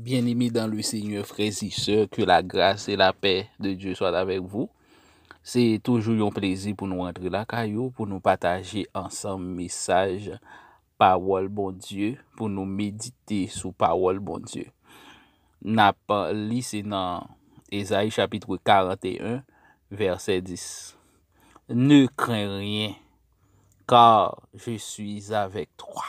Byeneme dan le Senyè frè e sè, ke la gras e la pè de Dye swat avèk vou. Se toujou yon plezi pou nou antre lakay ou, pou nou pataje ansanm mesaj pawòl Bondye, pou nou medite sou pawòl Bondye. N ap li se nan Ezayi chapitre 41 vèsè 10. Ne kren ryen, kar je suis avèk twa.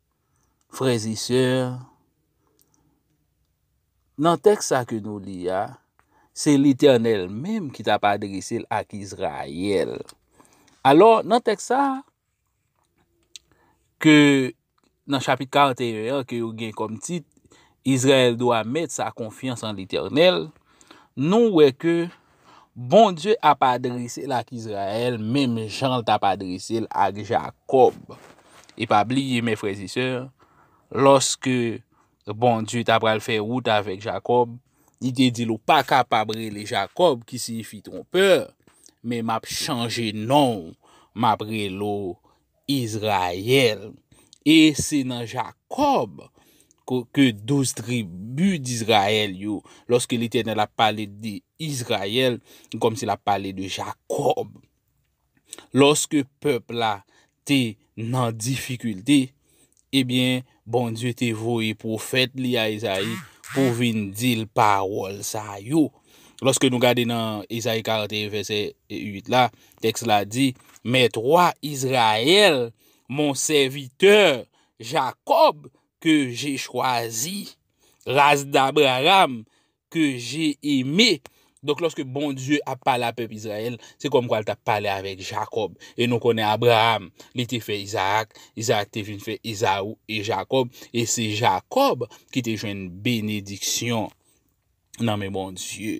Frères et sœurs, nan tèks sa ke nou li a, se Letènèl menm ki tap adrese l ak Izrayèl. Alò, nan tèks sa, ke nan chapit 41 an, ke yo gen kòm tit, Izrayèl dwa mèt sa konfyans an Letènèl, nou wè ke Bondye ap adrese l ak Izrayèl menm jan l t ap adrese l ak Jakòb. E pa bliye, mè frè e sè, lòske Bondye t apral fè wout avèk Jakòb, li te di l, ou pa kapab rele Jakòb ki siyifi twonpè, men m ap chanje non w, m ap rele w Izrayèl, e se nan Jakòb ke douz tribi d'Izrayèl yo, lòske Letènèl ap pale de Izrayèl, se kòmsi l'ap pale de Jakòb. Lòske pèp la te nan difikilte, Ebyen, Bondye te voye pwofèt li a Ezayi pou vin di l pawòl sa yo. Lòske nou gade nan Ezayi 41 vèsè 8 la, tèks la di, Mèt wa Izrayèl, mon sèvitè, Jakòb, ke je chwazi, ras d'Abraram, ke je eme. Donk lòske Bondye ap pale a pèp Izrayèl, se kòm kwa l t ap pale avèk Jakòb. E nou konnen Abraam, li te fè Izaak, Izaak te vin fè Ezaou e Jakòb, e se Jakòb ki te jwenn benediksyon nan men Bondye.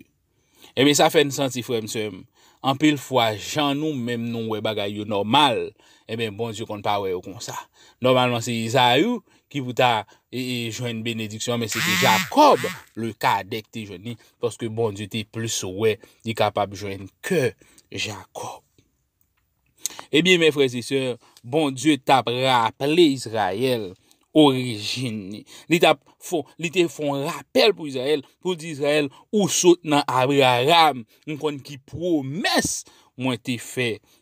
Ebyen sa fè n santi frè m, sè m, anpil fwa jan nou menm nou wè bagay yo nòmal, ebyen Bondye konn pa wè yo konsa. Nòmalman se Ezaou ki pou ta jwenn benediksyon men se te Jacob le cadet ki te jwenn li paske Bondye te plis wè li kapab jwenn ke Jacob. Ebyen eh men frères et sœurs, Bondye tap raple Israël orijin ni. Li tap fon, li te fon rapèl pou Israël, pou di Israël ou sot nan Abraham, m konn ki pwomès mwen te fè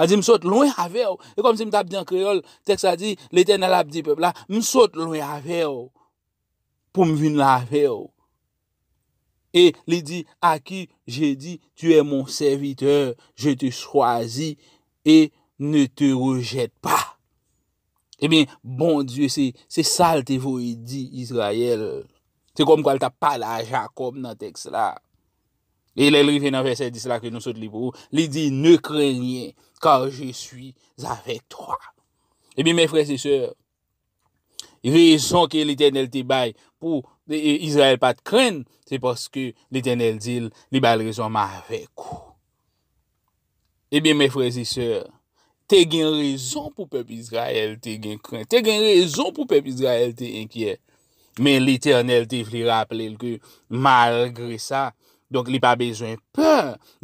A di, m sot lwen avè w. Se kòmsi m t ap di an kreyòl, tèks la di, Letènèl ap di pèp la, m sot lwen avè w pou m vin la avè w. E li di, A ki je di, tu è mon sèvitè, je te chwazi e ne te rejèt pa. Ebyen, Bondye se sa l te voye di Izrayèl. Se kòmkwa l t ap pale a Jakòb nan tèks la. E lè l rive nan vèsè 10 la ke nou sot li pou ou, li di, Ne crains rien, car je suis avec toi. Ebyen, mè frè se sè, rezon ke Letènèl te bay pou Izrayèl pa t krenn, se paske Letènèl di l, li ba l rezon, M avèk ou. Ebyen, mè frè e sè, te gen rezon pou pèp Izrayèl te gen kren, te gen rezon pou pèp Izrayèl te enkyè, men Letènèl te vle raple l ke malgre sa, donk li pa bezwen pè,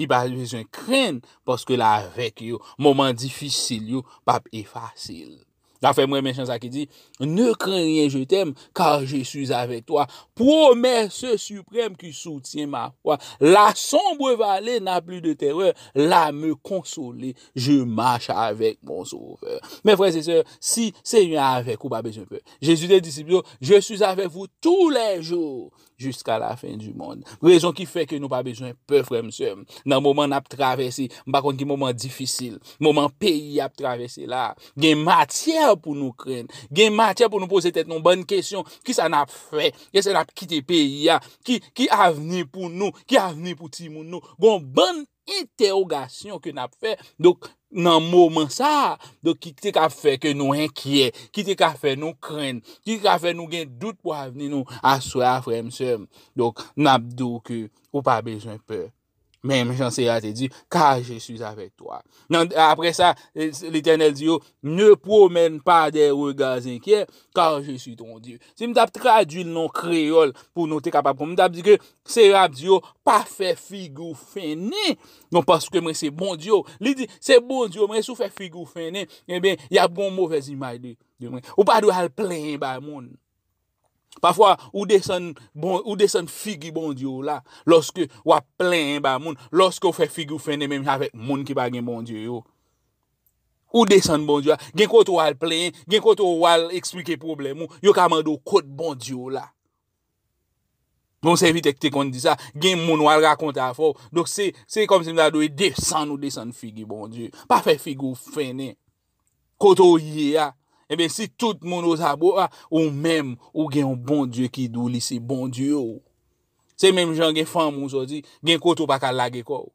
li pa bezwen kren, paske l avèk yo, moman difisil yo pap efase l. Zafè m renmen chan sa ki di, Ne kren rien je t'aime, kar je suis avèk twa, Pwomès siprèm ki soutyen ma fwa, La sonbre vale n'a pli de terè, La me konsole, je mach avèk mon sovè. Men frè se sè, si Senyè avèk ou pa bezwen pè. Jezi te disip yo, Je suis avèk vou tou lè jou. jiska la fen di mond. Rezon ki fè ke nou pa bezwen pè frè m sè m. Nan moman n ap travèse, m pa konn ki moman difisil, moman peyi ap travèse la, gen matyè pou nou krenn, gen matyè pou nou poze tèt nou bòn kesyon, ki sa n ap fè, kè sa n ap kite peyi a, ki avni pou nou, ki avni pou timoun nou, gon bann. entèwogasyon ke n ap fè, donk, nan moman sa a, donk ki te ka fè ke nou enkyè, ki te ka fè nou krenn, ki te ka fè nou gen dout pou avni nou, aswè a frè m, sè m, donk, n ap di w ke ou pa bezwen pè, menm jan Seyè a te di, ka je si avèk to a. Nan, apre sa, Letènèl di yo, ne pwomèn pa de rega zenkyè, ka je si ton Dye. Si m tap tradwi l nan kreyòl pou nou te kapab konprann, m tap di ke se yo ap di yo pa fè figi w fennen non paske mwen se Bondye w. Li di se Bondye w mwen si w fè figi w fennen enben y ap gen yon movèz imaj de mwen. Ou pa dwe al plenyen bay moun. Pafwa ou desann figi Bondye w la lòske w ap plenyen bay moun, lòske w fè figi w fennen menm jan avèk moun ki pa gen Bondye yo. Ou desann Bondye a. Gen kote ou al plenyen. Gen kote ou al eksplike pwoblèm ou. Yo ka mande ou kot Bondye w la. Yon sèvitè ki te konn di sa. Gen moun ou al rakonte afè w. Donk se, se kòm si m ta di w e desann ou desann figi Bondye. Pa fè figi w fennen. Kote ou ye a. Enben si tout moun ozabo a. Ou menm ou gen yon Bondye ki di w li se Bondye w. Se menm jan gen fanm ou sòti. Gen kote ou pa ka lage kò w.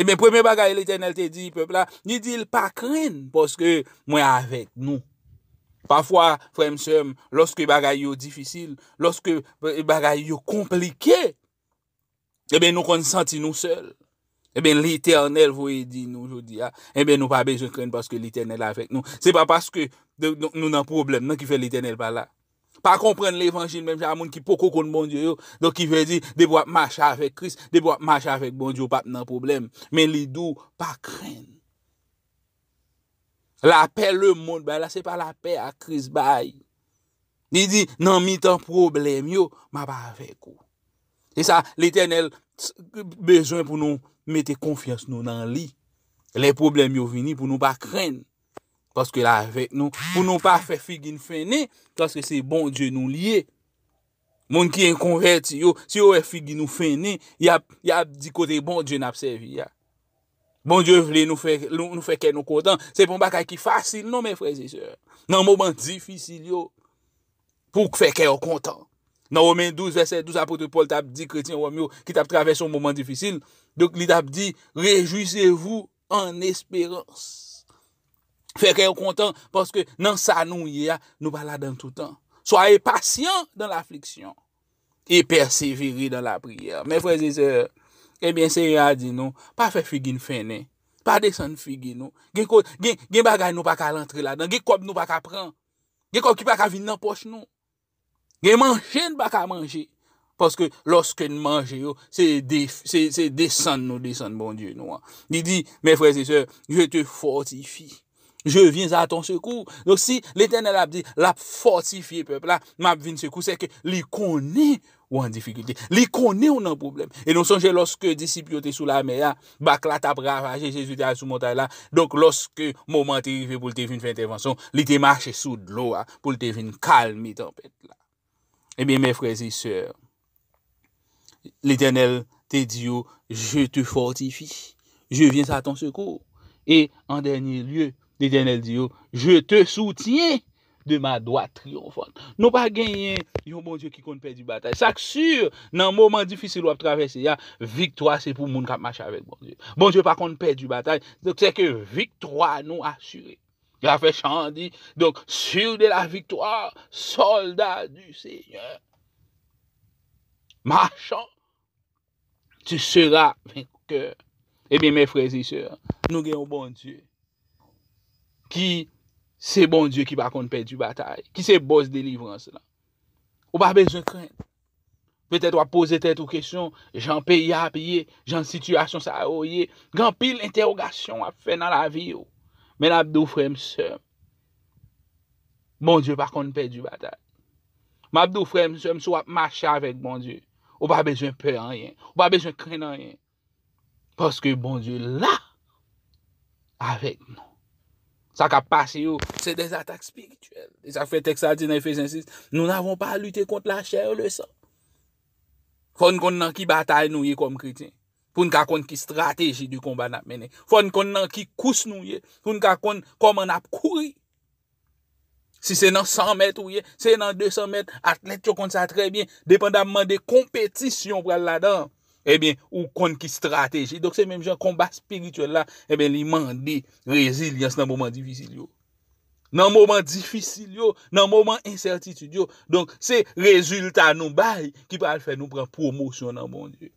Ebyen, premye bagay Letènèl te di pèp la, li di l, pa krenn, paske mwen avèk nou. Pafwa, frè m, sè m, lòske bagay yo difisil, lòske bagay yo konplike, ebyen nou konn santi nou sèl. Ebyen, Letènèl voye di nou jodi a, ebyen nou pa bezwen krenn paske Letènèl avèk nou. Se pa paske nou nan pwoblèm nan ki fè Letènèl pa la. pa konprann levanjil menm jan a moun ki poko konn Bondye yo, donk ki vle di depi wap mache avèk Kris, depi wap mache avèk Bondye ou pap nan pwoblèm, men li di w pa krenn. Lapè lemond bay la se pa lapè a Kris bay. Li di nan mitan pwoblèm yo map avèk ou. E sa Letènèl bezwen pou nou mete konfyans nou nan li, lè pwoblèm yo vini pou nou pa krenn. Paske la avèk nou. Pou nou pa fè figi n fennen. Paske se Bondye nou li ye. Moun ki en konvèti yo. Si yo wè figi nou fennen. Ya ap di kote Bondye n ap sèvi ya. Bondye vle nou fè kè nou kontan. Se pon bagay ki fasil non men frè zisè. Nan moman difisil yo. Pou k fè kè yo kontan. Nan Romen 12 vèsè 12 apotre Paul t ap di kretyen Rom yo. Ki t ap travèse yon moman difisil. Donk li t ap di. Rejwisevou an esperans. Fè kè yo kontan paske nan sa nou ye a, nou pa ladan toutan. Soyez patient dans l'affliction et perseverez dans la prière. Mes frères et sœurs, eh bien Seigneur a di nou, pa fè figi n fennen, pa desann figi nou. Gen bagay nou pa ka rantre ladan, gen kòb nou pa ka pran, gen kòb ki pa ka vin nan pòch nou. Gen manje n pa ka manje, paske lòske n manje yo, se desann nou desann Bondye nou an. Li di, Mes frères et sœurs, je te fortifie, je viens à ton secours. Donk si Letènèl ap di l ap fòtifye pèp la, m ap vin sekou, sèke li konnen Ou an difikilte. Li konnen ou nan pwoblèm. E nou sonje lòske disip yo te sou lamè a, bak la t ap ravaje, Jezi te al sou montay la, donk lòske moman an te rive pou l te vin fè entèvansyon, li te mache sou dlo a pou l te vin kalme tanpèt la. Ebyen, mè frè e sè, Letènèl te di yo, Je te fòtifi, je viens a ton sekou. E an dènye lye, Letènèl di yo, Je te soutyen, de ma dwat triyonfant. Nou pa genyen yon Bondye ki konn pèdi batay. Sa k sur, nan moman difisil wap travèse a, viktwa se pou moun kap mache avèk Bondye. Bondye pa konn pèdi batay, donk se ke viktwa nou asire. La fè chan an di, donk sur de la viktwa, solda du Seigneur, machan. Tu seras vainqueur. Ebyen mè frè zi sè, nou gen yon Bondye ki se Bondye ki pa konn pèdi batay, ki se bòs delivrans la. Ou pa bezwen kren. Petèt wap poze tèt ou kesyon, jan peyi a ap ye, jan sitiyasyon sa yo ye, gen anpil entèwogasyon wap fè nan lavi ou. Men ap di ou frè m sè m. Bondye pa konn pèdi batay. M ap di w frè m, sè m, si w ap mache avèk Bondye, ou pa bezwen pè anyen, ou pa bezwen krenn anyen, paske Bondye la avèk nou. Sa k ap pase yo, se de atak espirityèl. E sa k fè tèks la di nan Efesyen 6, nou n'avons pas à lutter contre la chair et le sang. Fò n konn nan ki batay nou ye kòm kretyen. Pou n ka konn ki strateji de konba n ap mennen. Fò n konn nan ki kous nou ye. Pou n ka konn kòman n ap kouri. Si se nan 100 mèt ou ye, si se nan 200 mèt, atlèt yo konn sa trè byen. Depandamman de konpetisyon ou pral ladan an, ebyen, ou konn ki strateji. Donk se menm jan konba espirityèl la, ebyen, li mande rezilyans nan moman difisil yo. Nan moman difisil yo, nan moman ensètitid yo. Donk se rezilta nou bay ki pral fè nou pran pwomosyon nan Bondye.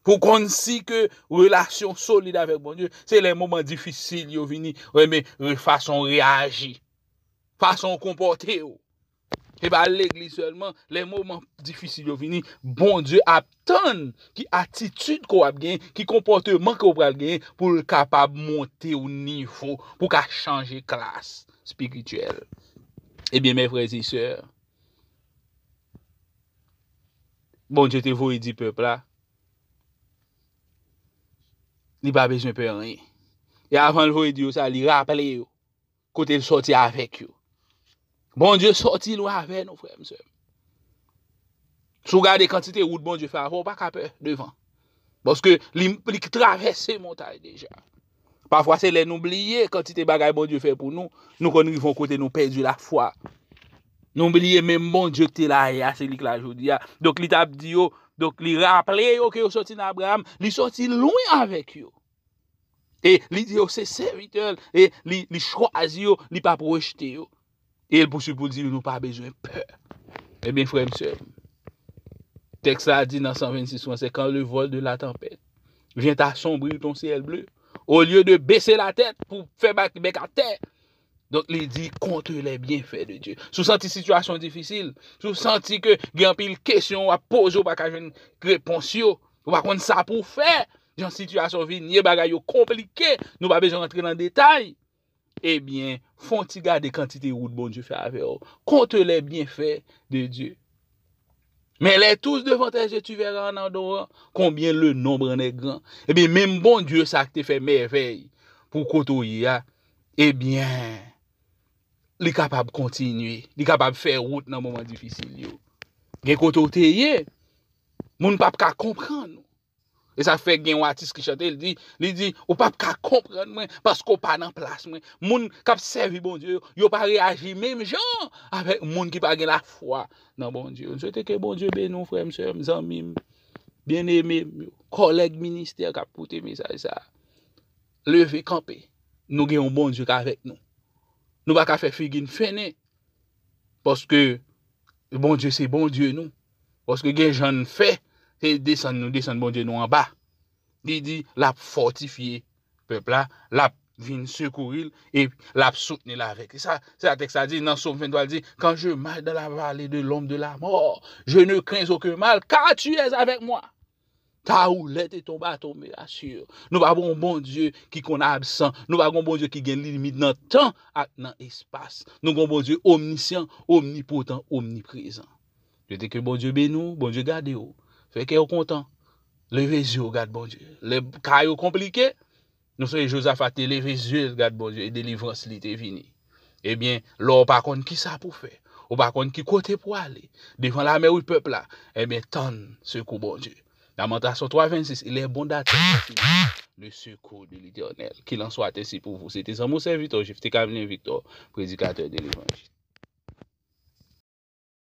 Pou konn si ke relasyon solid avèk Bondye, se lè moman difisil yo vini, renmen fason reyaji, fason konpòte yo. Se pa legliz sèlman, lè moman difisil yo vini, Bondye ap tann ki atitid ke w ap gen, ki konpòteman ke w pral gen pou l kapab monte w nivo, pou w ka chanje klas spirityèl. Ebyen, mè frè e sè, Bondye te voye di pèp la, li pa bezwen pè anyen. E avan l voye di yo sa, li raple yo kote l sòti avèk yo. Bondye sòti lwen avè nou, frè m, sè m. Si w gade kantite wout Bondye fè avè w, ou pa ka pè devan. Paske li travèse montay deja. Pafwa se lè nou bliye kantite bagay Bondye fè pou nou, nou konn rive yon kote nou pèdi lafwa. Nou bliye menm Bondye ki te la yè a, se li ki la jodi a. Donk li t ap di yo, donk li raple yo ke yo soti nan Abraram, li soti lwen avèk yo. E li di yo se sèvitè l, e li chwazi yo, li p ap rejte yo. E l pouswiv pou l di, Nou pa bezwen pè. Ebyen, frè m, sè m, tèks la di nan 126 franse, Kan le vòl de la tanpèt vyen asombrir ton syèl ble, olye de bese latèt pou fè bèk atè, donk li di, Konte lè byenfè de Dye. Si w santi sitiyasyon difisil, si w santi ke gen anpil kesyon w ap poze w pa ka jwenn repons yo, ou pa konn sa pou w fè, jan sitiyasyon vin ye, bagay yo konplike, nou pa bezwen rantre nan detay. Ebyen, fon ti gade kantite wout Bondye fè avè w. Konte lè byenfè de Dye. Men lè tous devan tè je tu vèra an adoran konbyen le nonbre an è gran. Ebyen, menm Bondye sa ki te fè mèvèy pou kote w ye a, ebyen, li kapab kontinye, li kapab fè wout nan moman difisil yo. Gen kote w te ye, moun pap ka konprann ou. E sa fè gen yon atis ki chante, li di, li di, ou pa p ka konprann mwen paske ou pa nan plas mwen. Moun k ap sèvi Bondye yo, yo pa reyaji menm jan avèk moun ki pa gen lafwa nan Bondye. M swete ke Bondye beni w frè m, sè m, zanmi m, byeneme m yo, kòlèg ministè k ap koute mesaj sa a. Leve kanpe, nou gen yon Bondye k avèk nou. Nou pa ka fè figi n fennen paske Bondye se Bondye nou. Paske gen jan n fè, se desann nou desann Bondye nou anba. Li di l ap fòtifye pèp la, l ap vin sekouri l e l ap soutni l avèk. Se sa tèks la di nan Som 23, li di, Kan je mach dan lavale de lonm de lamò, je ne krens oken mal, ka tu es avèk mwa. Ta roulèt e ton baton me asur. Nou pa gon bon Dieu ki konn absan. Nou pa gon bon Dieu ki gen limit nan tan ak nan espas. Nou gon bon Dieu omnisyan, omnipotan, omniprezan. Je te ke bon Dieu beni w, bon Dieu gade w. Fè kè w kontan. Leve zye w gad bon Dieu. Lè ka yo konplike. Nou sonje Jozafa te leve zye l gad Bondye e delivrans li te vini. Ebyen, lè w pa konn ki sa pou fè, ou pa konn ki kote pou ale, devan lame wi pèp la, ebyen tann sekou Bondye. Lamantasyon 3 26 Il est bon d'attendre en silence le secours de l'Eternel. Qu'il en soit ainsi pour vous. Se te zanmi w sèvitè w Jephté Camelien Victor, predikatè de levanjil.